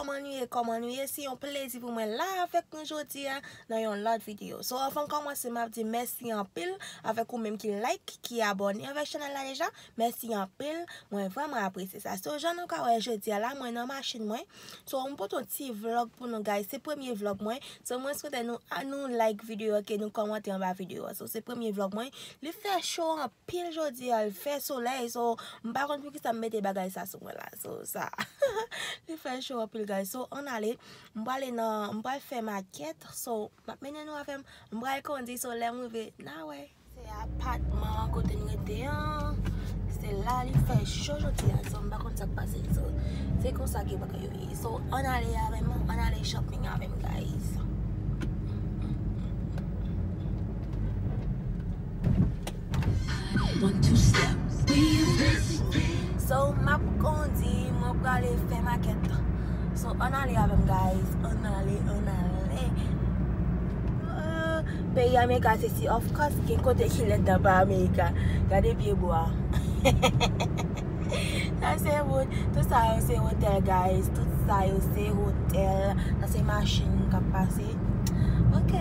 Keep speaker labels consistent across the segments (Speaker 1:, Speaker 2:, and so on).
Speaker 1: Kòman nou ye kòman nou ye se yon plezi pou mwen la avèk nou jodia nan yon lòt video so avan kòmanse map di mèsi anpil avèk ou menm ki like ki abòne avèk chanèl la deja mèsi anpil mwen vrèman apresye sa so jan nou ka wè jodia la mwen nan machin mwen So m pote yon ti vlog pou nou guys, se premye vlog mwen, so mwen swete nou a nou like video ok nou kòmante anba video a, so se premye vlog mwen, li fè cho anpil jodi a, li fè solèy, so m pa konn poukisa m mete bagay sa sou mwen la, so sa li fè cho anpil guys, so ann ale m prale nan, m pral fè makèt, so m ap mennen nou avè m, m pral kondi, so lè m rive na wè. Se apatman kote m rete an. Se la li fè cho jodi a so m pa konn sak pase so se konsa ke bagay yo ye so ann ale avè m ann ale shopping avè m guys. So m ap kondi mwen prale fè makèt so ann ale avè m guys ann ale ann ale. Ooh peyi america se si of course gen kote ki lèd nan pa america gade pye bwa sa se wout tout sa yo se hotel guys tout sa yo se hotel sa se machine kap pase ok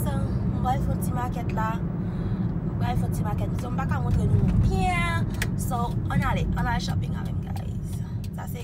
Speaker 1: so m pral fon ti makèt la m pral fon ti makèt so m paka montre nou byen so ann ale ann al shopping avèm guys sa se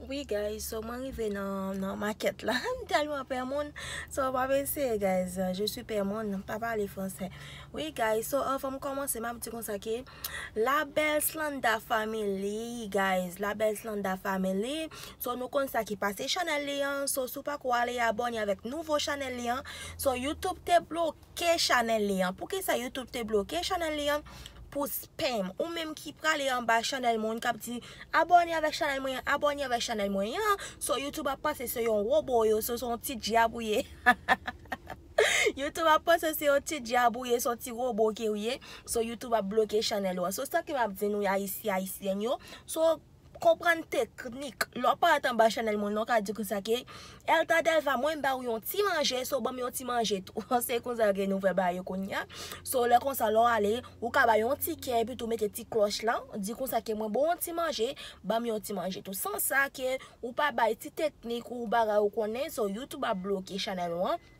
Speaker 1: Wi guys so mwen rive nan makèt la m tèlman pè moun so m ap eseye guys je suis pè moun m pa pale fransè wi guys so anvan m kòmanse m ap di konsa ke la bèl slanda family guys la bèl slanda family so nou konn sa ki pase chanèl li an so si w pako ale abòne avèk nouvo chanèl li an so youtube te bloke. bloke chanèl li an. Poukisa youtube te bloke chanèl li an pou spam. Ou menm ki prale anba chanèl moun kap di abòne avèk chanèl mwen an, abòne avèk chanèl mwen an. So youtube ap panse se yon wobo yo, so se yon ti dyab ou ye. Youtube ap panse se yon ti dyab ou ye, se yon ti wobo ke ou ye. So youtube ap bloke chanèl ou an. So sa ke map di nou ayisyen, ayisyèn yo. So. Konprann teknik. Lè w paret anba chanèl mwen la w ka di konsa ke Elta Delva mwen ba ou yon ti manje so banm yon ti manje tou se konsa ke nou fè bagay yo kounya so lè konsa lè w ale ou ka bay yon tikè epi tou mete ti klòch lan di konsa ke mwen ba w yon ti manje banm yon ti manje tou san sa ke ou pa bay ti teknik ou bagay ou konnen so youtube ap bloke chanèl ou an.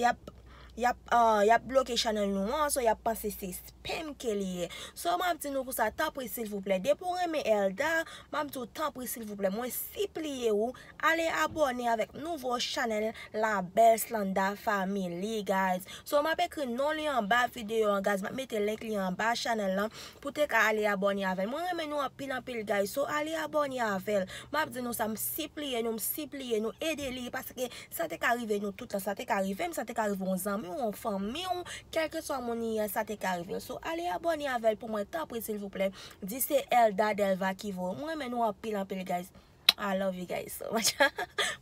Speaker 1: yap yap yap bloke chanèl nou an so yap panse se spam ke li ye so map di nou konsa tanpri silvouplè depi ou renmen Elda map diw tanpri silvouplè mwen sipliye ou ale abòne avèk nouvo chanèl la belle slanda family guys so map ekri non li anba videyo an guys map mete link li anba chanèl lan pou te ka ale abòne avèl mwen renmen nou anpil anpil guys so ale abòne avèl map di nou sa m sipliye nou m sipliye nou ede li paske Sa te ka rive nou tout la, sa te ka rive m, sa te ka rive yon zanmi w, yon fanmi w, kèlkeswa moun li ye sa te ka rive l. So ale abòne avèl pou mwen tanpri silvouplè, di se Elda Delva ki voye. M renmen nou anpil anpil guys. I love you guys so much.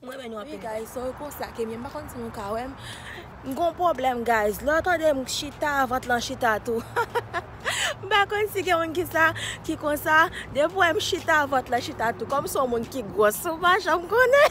Speaker 1: M renmen nou anpil guys so konsa ke m ye m pa konn si nou ka wè m. M gon pwoblèm guys, lè w tande m chita vant lan chita tou. M pa konn si gen moun ki sa, ki konsa, depi w wè m chita vant lan chita tou. Kòm m son moun ki gwòs ou pa janm konnen.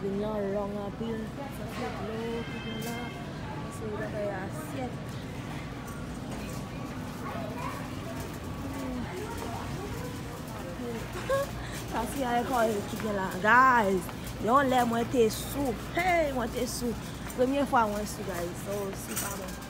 Speaker 1: Vin lan long anpil. Santi dlo ki gen la. Ase yon bagay asyèt. Santi yon ekòl ki gen la. Guys, yon lè mwen te sou. Hey, mwen te sou. Premye fwa mwen sou guys. So, sou pa bon.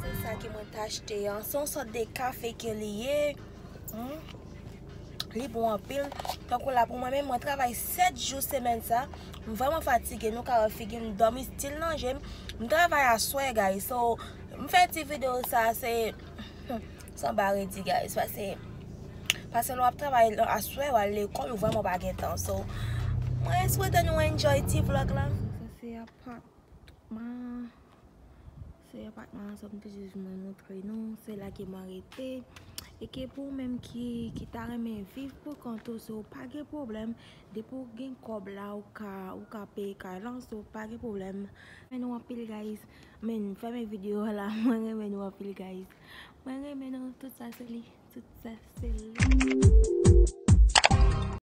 Speaker 1: Se sa ke mwen ta achte an. Se yon sòt de kafe ke li ye. Li bon anpil. Tankou la pou mwen menm, mwen travay 7 jou semen sa. Mwen vreman fatige. Nou ka wè figi m dòmi stil nan je m. M travay aswè guys. So, m fè ti video sa se sanba redi guys. Pase, pase lè w ap travay aswè, w al lekòl, ou vreman pa gen tan. So, mwen swete nou enjoy ti vlog la. Se apatman an sa m te jis vin montre nou. Se la ke mwen rete. E ke pou ou menm ki ta renmen viv pou kont ou, si ou pa gen pwoblèm, depi ou gen kòb la, ou ka peye kay la, si ou pa gen pwoblèm. Mwen renmen nou anpil guys. Men fèmen video a la. Mwen renmen nou anpil guys. Mwen renmen nou. Tout sa se li. Tout sa se li.